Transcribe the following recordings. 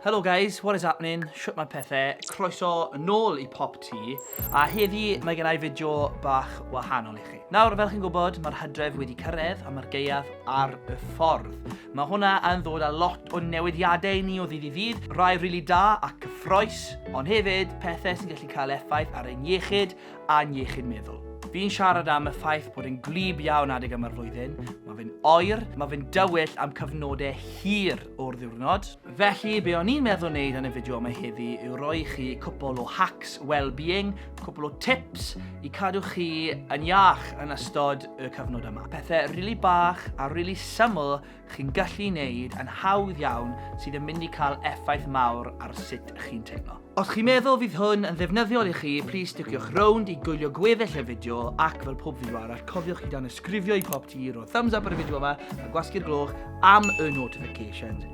Helo guys, what is happening? Shwt mae pethau? Croeso nôl i Pop T, a heddi mae gen i fideo bach wahanol i chi. Nawr, fel chi'n gwybod, mae'r hydref wedi cyrraedd a mae'r geiaf ar y ffordd. Mae hwnna yn ddod â lot o newidiadau i ni o ddydd i ddydd, rai rili really da a cyffroes, ond hefyd pethau sy'n gallu cael effaith ar ein iechyd a'n iechyd meddwl. Fi'n siarad am y ffaith bod e'n gwlyb iawn adeg yma'r flwyddyn, mae fe'n oer, mae fe'n dywyll am cyfnodau hir o'r ddiwrnod. Felly, be o'n i'n meddwl wneud yn y fideo yma heddi yw roi i chi cwpl o hacks well-being, cwpl o tips i cadw chi yn iach yn ystod y cyfnod yma. Pethau rili really bach a rili really syml chi'n gallu wneud yn hawdd iawn sydd yn mynd i cael effaith mawr ar sut ych chi'n teimlo. Os chi'n meddwl fydd hwn yn ddefnyddiol i chi, plis sticiwch rownd i gwylio gweddill y fideo ac fel pob fideo arall, cofiwch i danysgrifio i pob ti, rhoi thumbs up ar y fideo yma a gwasgu'r gloch am y notifications.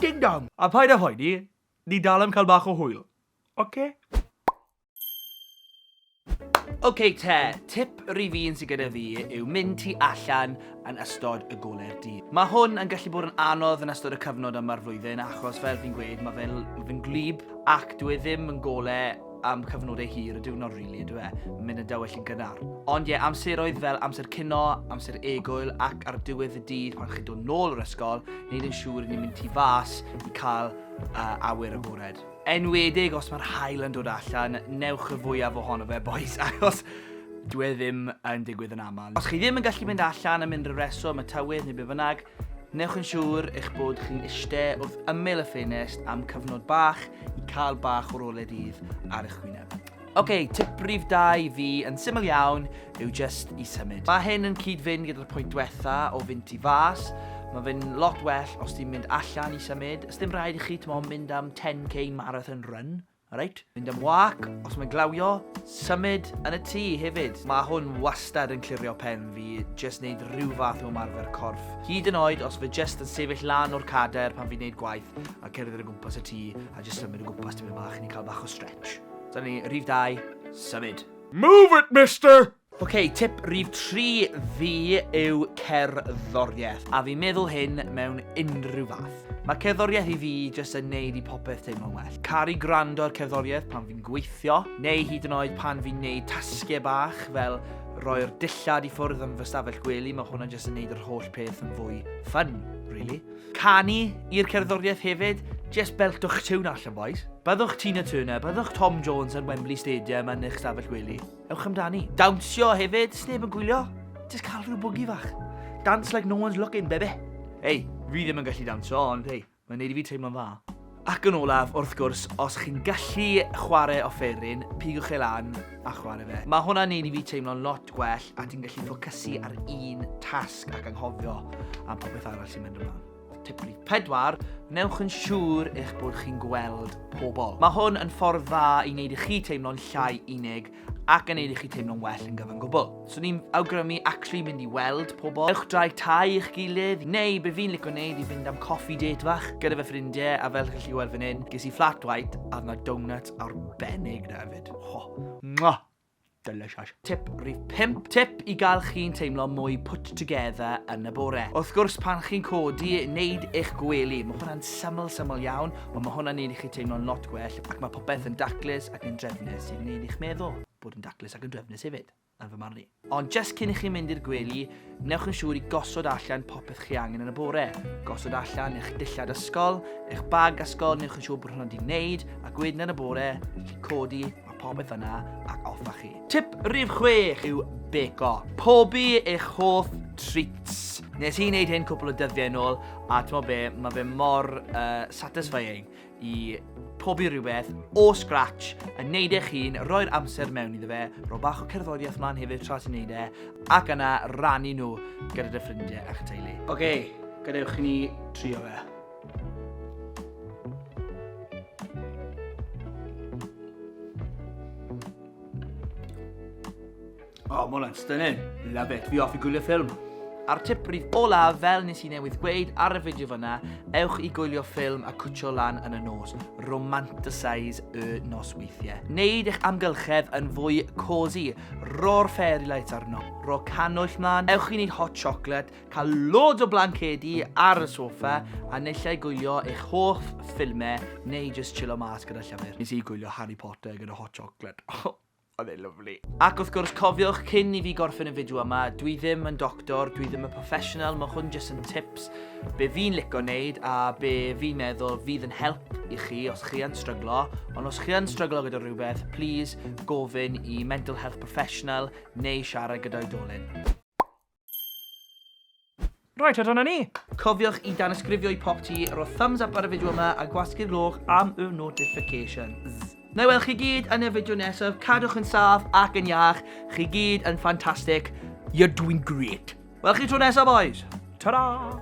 Ding dong! A paid â phoeni, ni dal am cael bach o hwyl. Oce? OK te, tip rif un sydd gyda fi yw mynd ti allan yn ystod y goler dydd. Mae hwn yn gallu bod yn anodd yn ystod y cyfnod yma'r flwyddyn achos fel fi'n gweud mae fe'n ma fe gwlyb ac dwi e ddim yn gole am cyfnodau hir y diwrnod rili, really, dwi e? Mae'n mynd yn dywell yn gynnar. Ond ie, yeah, amseroedd fel amser cino, amser egwyl ac ar diwedd y dydd pan chi'n dod nôl o'r ysgol, wneud yn siŵr i ni'n mynd tu fas i cael uh, awyr agored. Enwedig os mae'r haul yn dod allan, newch y fwyaf ohono fe, boys, achos dwi e ddim yn digwydd yn aml. Os chi ddim yn gallu mynd allan am unrhyw reswm, y tywydd neu be fynnag, newch yn siŵr eich bod chi'n eistedd wrth ymyl y ffenest am cyfnod bach i cael bach o'r ole dydd ar eich gwyneb. Ok, tip rif 2 i fi yn syml iawn yw just i symud. Mae hyn yn cyd-fynd gyda'r pwynt diwetha o fynd i fas. Mae fe'n lot well os ti'n mynd allan i symud. Ys dim rhaid i chi, ti'n mynd am 10k marathon run. Alright? Mynd am wac, os mae'n glawio, symud yn y tŷ hefyd. Mae hwn wastad yn clirio pen fi, just neud rhyw fath o marfer corff. Hyd yn oed os fe just yn sefyll lan o'r cader pan fi'n neud gwaith a cerdded o gwmpas y tŷ a just symud o gwmpas tipyn bach i ni cael bach o stretch. Dyna ni, rhif 2, symud. Move it, mister! Ok, tip rhif 3 fi yw cerddoriaeth, a fi'n meddwl hyn mewn unrhyw fath. Mae cerddoriaeth i fi jyst yn neud i popeth teimlo'n well. Caru gwrando ar cerddoriaeth pan fi'n gweithio, neu hyd yn oed pan fi'n neud tasgau bach fel roi'r dillad i ffwrdd yn fy stafell gwely, mae hwnna jyst yn neud yr holl peth yn fwy ffyn, really. Canu i'r cerddoriaeth hefyd, jest beltwch tiwn allan bois. Byddwch Tina Turner, byddwch Tom Jones yn Wembley Stadium yn eich stafell wely. Ewch amdani. Dawnsio hefyd, sneb yn gwylio. Just cael rhyw bwgi fach. Dance like no one's looking, bebe. Ei, fi ddim yn gallu dawnsio, ond hei, mae'n neud i fi teimlo'n dda. Ac yn olaf, wrth gwrs, os chi'n gallu chwarae offeryn, pigwch e lan a chwarae fe. Mae hwnna'n neud i fi teimlo'n lot gwell a ti'n gallu ffocysu ar un tasg ac anghofio am popeth arall sy'n mynd ymlaen. Tip rhif 4, newch yn siŵr eich bod chi'n gweld pobl. Mae hwn yn ffordd dda i wneud i chi teimlo'n llai unig ac yn neud i chi teimlo'n well yn gyfan gwbl. So ni'n awgrymu actually mynd i weld pobl. Ewch draig tai i'ch gilydd, neu be fi'n licio neud i fynd am coffee date fach gyda fy ffrindiau, a fel chi'n lliwed fan hyn, ges i flat white a yna donuts arbennig na hefyd. Ho, mwah! Delicious. Tip rhif 5. Tip i gael chi'n teimlo mwy put together yn y bore. Wrth gwrs, pan chi'n codi, neud eich gwely. Mae hwnna'n syml, syml iawn, Ond mae hwnna'n neud i chi teimlo'n lot gwell ac mae popeth yn daclus ac yn drefnus sy'n neud i'ch meddwl bod yn daclus ac yn drefnus hefyd, yn fy marn i. Ond just cyn i chi mynd i'r gwely, newch yn siŵr i gosod allan popeth chi angen yn y bore. Gosod allan eich dillad ysgol, eich bag ysgol, newch yn siŵr bod hwnna wedi wneud, ac wedyn yn y bore, chi codi, mae popeth yna, ac off â chi. Tip rhif chwech yw beco. Pobi eich hoff treats. Nes i wneud hyn cwpl o dyddiau yn ôl, a ti'n be, mae fe mor uh, satisfying i pobi rhywbeth o scratch, yn neud eich hun, roi'r amser mewn iddo fe, rho bach o cerddoriaeth mlaen hefyd tra ti'n neud e, ac yna rannu nhw gyda dy ffrindiau a'ch teulu. Oce, okay, gadewch i ni trio fe. Oh, mae hwnna'n stunning. Love it. Fi off i gwylio ffilm. A'r tip rif olaf, fel nes i newydd gweud ar y fideo fyna, ewch i gwylio ffilm a cwtio lan yn y nos. Romanticise y nos weithiau. Neud eich amgylchedd yn fwy cozy. Ro'r fairy lights arno. Ro canwyll mlaen. Ewch i wneud hot chocolate. Cael loads o blancedi ar y soffa a nillai gwylio eich hoff ffilmau neu jyst chillo mas gyda llyfr. Nes i gwylio Harry Potter gyda hot chocolate. Oedd e'n lyflu. Ac wrth gwrs, cofiwch, cyn i fi gorffen y fideo yma, dwi ddim yn doctor, dwi ddim yn professional, mae hwn jyst yn tips be fi'n lico wneud a be fi'n meddwl fydd yn help i chi os chi yn stryglo, ond os chi yn stryglo gyda rhywbeth, please gofyn i mental health professional neu siarad gyda oedolyn. Right, a dyna ni. Cofiwch i danysgrifio i pop ti, rho thumbs up ar y fideo yma a gwasgu'r gloch am y notifications. Na i weld chi gyd yn y fideo nesaf, cadwch yn saff ac yn iach, chi gyd yn ffantastig, you're doing great. Wel chi tro nesaf boys, ta-da!